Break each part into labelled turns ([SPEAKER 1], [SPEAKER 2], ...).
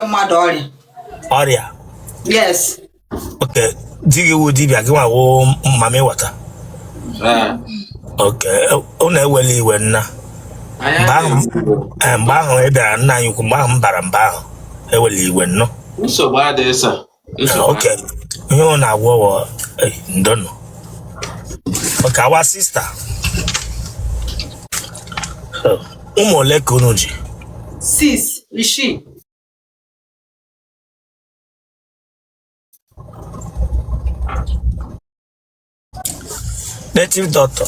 [SPEAKER 1] mmadụ
[SPEAKER 2] ọrịa ọrịa
[SPEAKER 1] yes
[SPEAKER 2] ok di gị wụ dibịa gị nwa wụ mamịwata Ee. ok unu ewele iwe nna Anyị mgbe ahụ adịghị nsogbu. eh, mgbe ahụ ị bịara nna anyị ukwu mgbe ahụ m bara mba ahụ ewele iwe nnọọ nsogbu adịghị
[SPEAKER 3] sa Nsogbu ha.
[SPEAKER 2] Okay. Ihe ọ na-agwọ wụ eh, ndo nụ. Okay, our sister. Oh, Ụmụ ole ka unu ji?
[SPEAKER 1] Six,
[SPEAKER 2] isii. Native doctor.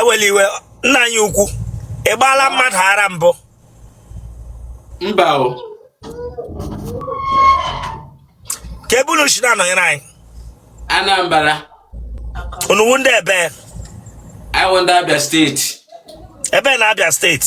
[SPEAKER 2] ewela iwe nna anyị ukwu ị gbaala mmadụ ara mbụ
[SPEAKER 3] mba o
[SPEAKER 2] kee ebe unu si na-anọnyere anyị anambra unu wụ ndị ebe anyị
[SPEAKER 3] wụ ndị abia state ebe na
[SPEAKER 2] abia state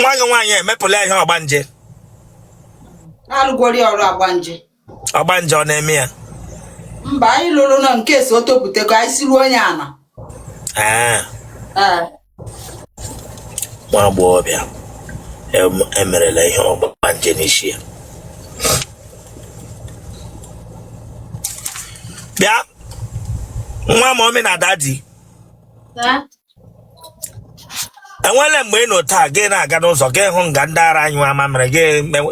[SPEAKER 2] nwa gị nwaanyị emepụla ihe ọgbanje
[SPEAKER 1] alụgori ọrụ ọgbanje ọgbanje ọ
[SPEAKER 2] na-eme ya mba
[SPEAKER 1] anyị lụrụ na in case o topụta ka anyị siruo onye ana Ah.
[SPEAKER 2] Ah. nwa agbọghọbịa emerela ihe ọgbanje n'isi ya bịa nwa mummy na daddy enwele mgbe ị nọ otu a gị na-aga n'ụzọ gị hụ nga ndị ara anyụ amamịrị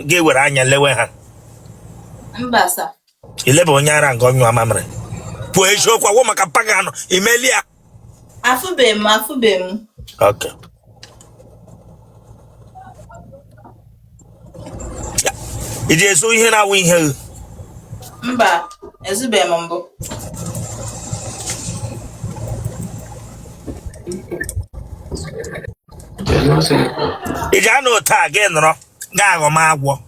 [SPEAKER 2] gị were anya lewe ha
[SPEAKER 1] ileba onye
[SPEAKER 2] ara nga ọ nyụ amamịrị kwuo eziokwu agwọ maka mpa gị anọ imeli ya
[SPEAKER 1] afụbeghị m afụbeghị m Okay.
[SPEAKER 2] ị ji ezu ihe na-awụ ihe gị
[SPEAKER 1] mba ezubeghị m
[SPEAKER 2] mbụ ị ji anọ otu a gị nọrọ ga-aghọ m agwọ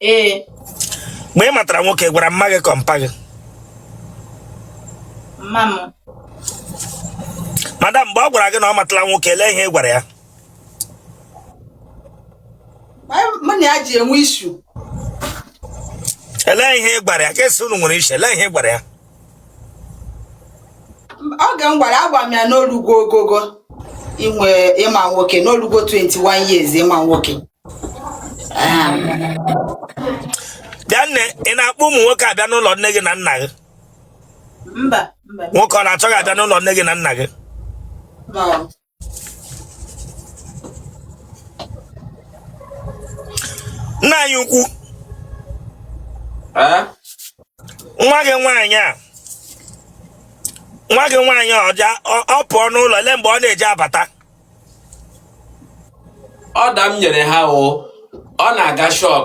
[SPEAKER 1] ee mgbe
[SPEAKER 2] ị matara nwoke gwara mma gị ka ọ mpa
[SPEAKER 1] gị mma m
[SPEAKER 2] madam mgbe ọ gwara gị na ọ matala nwoke elee ihe ị gwara
[SPEAKER 1] ya Anyị- mụ na ya ji enwe issue
[SPEAKER 2] elee ihe ị gwara ya ka esi unu nwere issue elee ihe ị gwara ya
[SPEAKER 1] oge m gwara agwa m ya na o lugo ogogo inwe ịma nwoke na o lugo 21 years ịma nwoke
[SPEAKER 2] bịa nne ị na-akpọ ụmụ nwoke abịa n'ụlọ nne gị na nna gị mba
[SPEAKER 1] mba nwoke ọ
[SPEAKER 2] na-achọ gị abịa n'ụlọ nne gị na nna gị no. nna anyị ukwu nwa gị nwaanyị a nwa gị nwaanyị ọ pụọ n'ụlọ olee mgbe ọ na-eji
[SPEAKER 3] abata order m nyere ha o ọ na-aga shop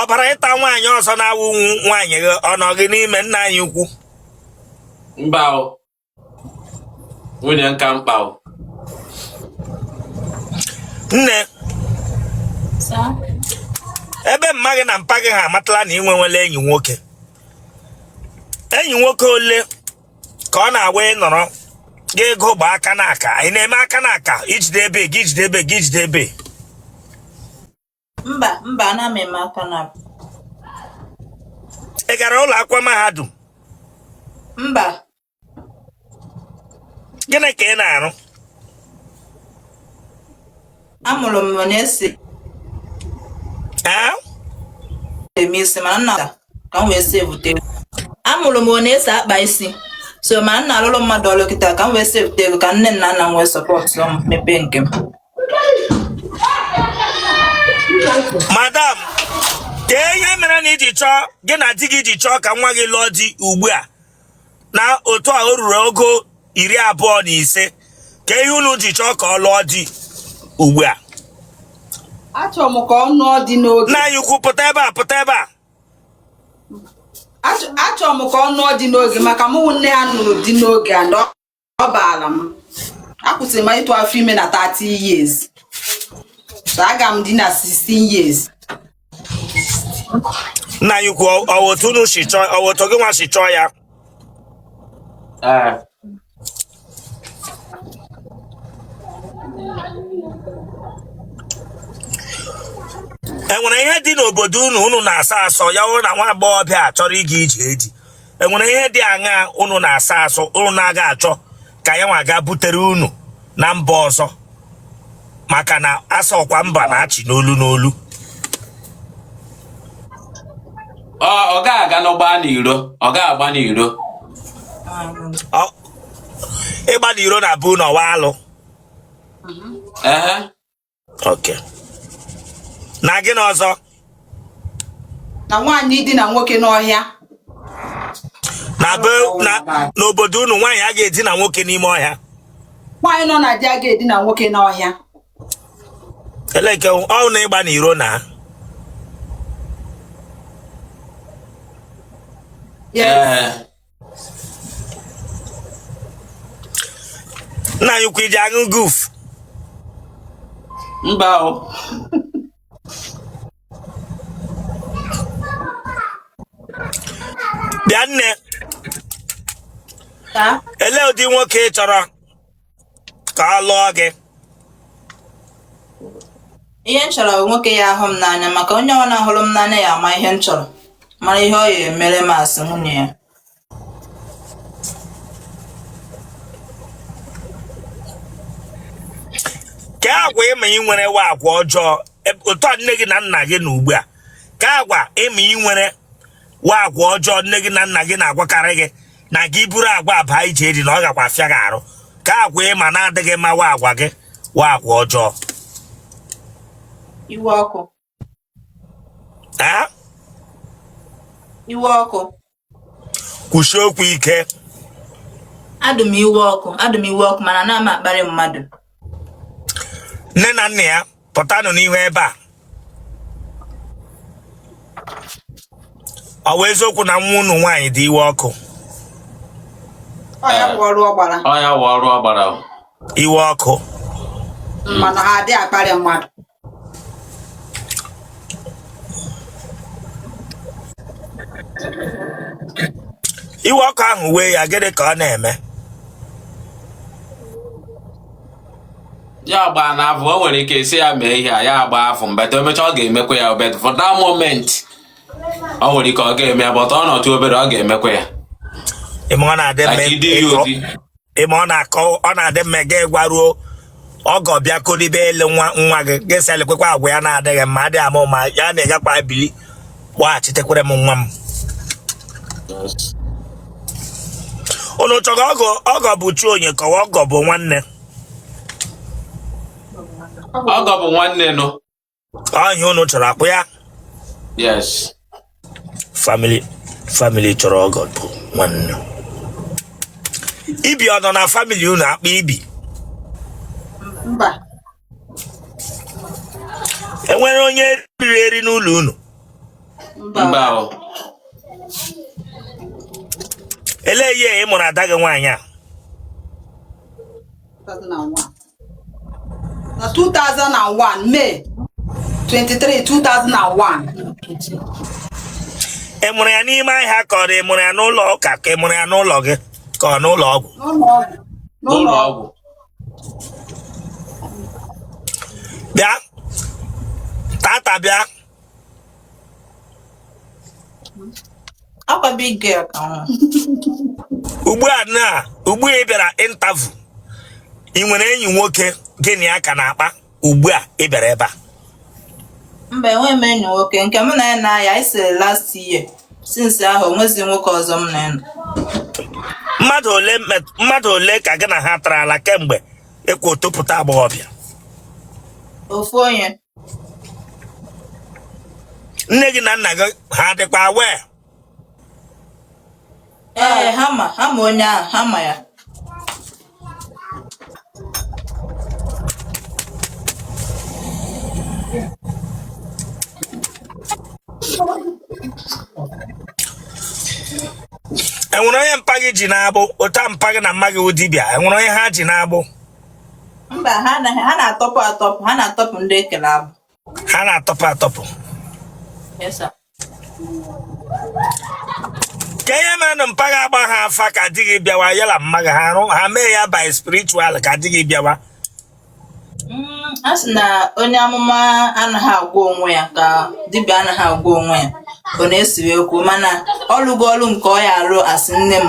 [SPEAKER 2] ọ bara ịta nwaanyị ọzọ na-awụ nwaanyị gị ọ nọ gị n'ime nna anyị ukwu mba
[SPEAKER 3] nwunye nka
[SPEAKER 2] mkpa nne ebe mma gị na mpa gị ha amatala na i nwewela enyi nwoke enyi nwoke ole ka ọ na-awa ị nọrọ gị ego gba aka n'aka ị na-eme aka n'aka ijide ebe gị ijide ebe gị ijide ebe mba
[SPEAKER 4] mba ana m eme aka n'aka
[SPEAKER 2] ị gara ụlọ akwụkwọ mahadum mba gịnị ka ị
[SPEAKER 4] na-arụ amụrụ m na esi ee eme isi mana m na ka m wee sevute ego amụrụ m onye esi akpa isi so ma m na-alụrụ mmadụ ọlụ kịta ka m wee sevute ego ka nne na nna m wee sọpọtụ m mepee nke m
[SPEAKER 2] madam kee ihe mere na i ji chọọ gị na di gị ji chọọ ka nwa gị lụọ di ugbu a na otu a o ruru ogo iri abụọ na ise kee ihe unu ji chọọ ka ọ lụọ di ugbu a
[SPEAKER 1] achọrọ m ka ọ nụọ di n'oge nna anyị ukwu pụta ebe
[SPEAKER 2] a pụta ebe a achọrọ
[SPEAKER 1] m ka ọ nụọ di n'oge maka mụ nne ya nụrụ di n'oge and ọ baala m akwụsịrị m ịtụ afọ ime na 30 years so aga m di na 16 years
[SPEAKER 2] nna anyị ukwu ọ- ọ otu unu si chọọ ọ otu gị nwa si chọọ ya Ee. enwere ihe dị n'obodo unu unu na-asọ asọ ya wụrụ na nwa agbọghọbịa a chọrọ ịga ije di enwere ihe dị aṅaa unu na-asọ asọ unu na-aga achọ ka ya nwa ga butere unu na mba ọzọ maka na a sịkwa mba na-achị n'olu n'olu
[SPEAKER 3] ọ ga-aga na-agba n'iro ọ ga-agba
[SPEAKER 2] n'iro ịgba n'iro na be unu ọ wụ alụ okay na gịnị
[SPEAKER 1] ọzọ na nwaanyị dina nwoke n'ọhịa na be
[SPEAKER 2] na n'obodo unu nwaanyị a ga-edina nwoke n'ime ọhịa nwaanyị
[SPEAKER 1] nọ na di a ga-edina nwoke
[SPEAKER 2] n'ọhịa eleke ọ wụ na ịgba n'iro na Yes. Eh, nna anyị ukwu ị ji aṅụ goof
[SPEAKER 3] mba o
[SPEAKER 2] bịa nne Taa. elee ụdị nwoke ị chọrọ ka ọ lụọ
[SPEAKER 4] gị ihe m chọrọ nwoke ya ahụ m n'anya maka onye ọwụna hụrụ m n'anya ya ama ihe m chọrọ mara ihe ọ ya emere m as nwunye ya
[SPEAKER 2] kaa agwa ị ma i nwere wụ agwa ọjọọ otu a nne gị na nna gị nọ ugbu a kaa agwa ị ma i nwere wụ agwa ọjọọ nne gị na nna gị na-agwakarị gị na gị buru agwa a baa ije di na ọ gakwa afịa gị arụ kaa agwa ị ma na-adịghị mma wụ agwa gị wụ agwa ọjọọ
[SPEAKER 4] iwe ọkụ iwe
[SPEAKER 2] ọkụ kwusie okwu ike
[SPEAKER 4] adụ m iwe ọkụ adụ m iwe ọkụ mana anaghị m akparị mmadụ
[SPEAKER 2] nne na nna ya pụtanụ n'ihu ebe a ọ wụ eziokwu na nwa unu nwaanyị dị iwe
[SPEAKER 1] ọkụ ọ ya bụ ọrụ ọ gbara ọ ya wụ ọrụ ọ gbara o. iwe ọkụ mana ha adịghị akparị mmadụ
[SPEAKER 2] iwe ọkụ ahụ wee ya gịnị ka ọ na-eme
[SPEAKER 3] ya gbaa n'afọ o nwere ike ị sị ya mee ihe a ya gbaa afọ mgbe o mechaa ọ ga-emekwa ya o but for that moment o nwere ike ọ ga-eme ya but ọ nọtụ obere ọ ga-emekwa ya ị ma ọ
[SPEAKER 2] na-adị mma like you do ịtụ your thing. ị ma ọ na-akọ ọ na-adị mma ka a gwaruo ọgọ bịa kolibe ele nwa nwa gị ga-asị elekwekwa agwa ya na-adịghị mma adịghị ama ụma ya na-egakwa bili kpọghachitekwere m nwa m unu chọrọ ọgọ ọgọ bụ chi onye ka ọ wụ ọgọ bụ nwanne
[SPEAKER 3] ọgọ bụ nwanne nụ ọ ihe
[SPEAKER 2] unu chọrọ ọkwa ya
[SPEAKER 3] yes
[SPEAKER 2] family family chọrọ ọgọ bụ nwanne ibi ọ nọ na family unu akpa ibi
[SPEAKER 1] mba
[SPEAKER 2] e nwere onye riri eri n'ụlọ unu mba
[SPEAKER 3] mba
[SPEAKER 2] o elee year ị mụrụ ada gị nwaanyị a
[SPEAKER 1] 2001 na 2001 May 23 2001
[SPEAKER 2] ị mụrụ ya n'ime ahịa ka ọ dị ị mụrụ ya n'ụlọ ụka ka ị mụrụ ya n'ụlọ gị ka ọ n'ụlọ ọgwụ n'ụlọ ọgwụ n'ụlọ
[SPEAKER 3] ọgwụ
[SPEAKER 2] bịa tata bịa
[SPEAKER 4] Akwa big girl ka
[SPEAKER 2] nwa. ugbu a na ugbu a ị bịara interview ị nwere enyi nwoke gị na ya ka na-akpa ugbu a ị bịara ebe a
[SPEAKER 4] Mba enweghị m enyi nwoke nke mụ na ya na-aya anyị siri last year since ahụ onwezi nwoke ọzọ m na ya nọ. mmadụ ole met-
[SPEAKER 2] mmadụ ole ka gị na ha tara ala kemgbe ị kwa topụta agbọghọbịa
[SPEAKER 4] ofu onye
[SPEAKER 2] nne gị na nna gị ha dịkwa aware
[SPEAKER 4] ee ha ma ha ma onye ahụ ha ma ya
[SPEAKER 2] enwere onye mpa gị ji n'agbụ otu a mpa gị na mma gị wụ dibịa enwere onye ha ji n'agbụ
[SPEAKER 4] mba ha anaghị ha na-atọpụ atọpụ ha na-atọpụ ndị e kele agbụ ha
[SPEAKER 2] na-atọpụ atọpụ Yes, sir. kee ihe menụ mpa gị agbaha afa ka di gị bịawa ya na mma gị ha arụ ha mee ya by spiritual ka di gị bịawa
[SPEAKER 4] Mm, a sị na onye amụma anaghị agwọ onwe ya ka dibịa anaghị agwọ onwe ya ọ na-esiwe okwu mana ọ lụgo ọlụ nke ọ ya-alụ as nne m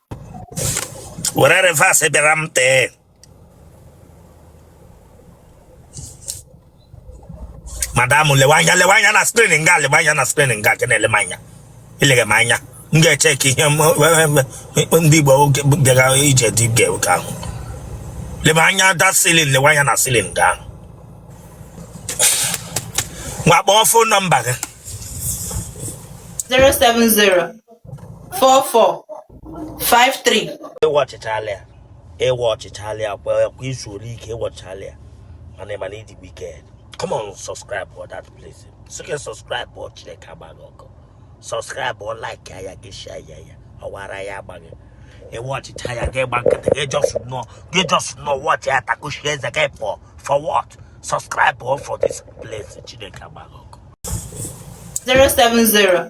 [SPEAKER 2] were reverse bịara m tee madam lewe anya lewe anya na screen nga lewe anya na screen nga ka na-ele m anya ileghe m anya m ga-eche ka ihe ndị Igbo bịara ije dị ga oke ahụ lebe anya that ceiling lewe anya na ceiling nga ahụ nwa kpọọ phone number gị
[SPEAKER 4] 070 4453 ị watchịchala
[SPEAKER 2] ya ị watchịchala ya kwa i zuole ike ị watchịchala ya mana ị ma na ị dị wicked come on subscribe for that place sie ike subscribe ọ Chineke agba gị ọkụ subscribe ọ like ya gị share ya ya ọ wụ ara ya-agba gị ị watchịcha ya gị gba nkịtị gị just nọ gị just nọ watch ya takushi eze gị pụọ for what subscribe ọ for this place Chineke agba gị ọkụ
[SPEAKER 4] 070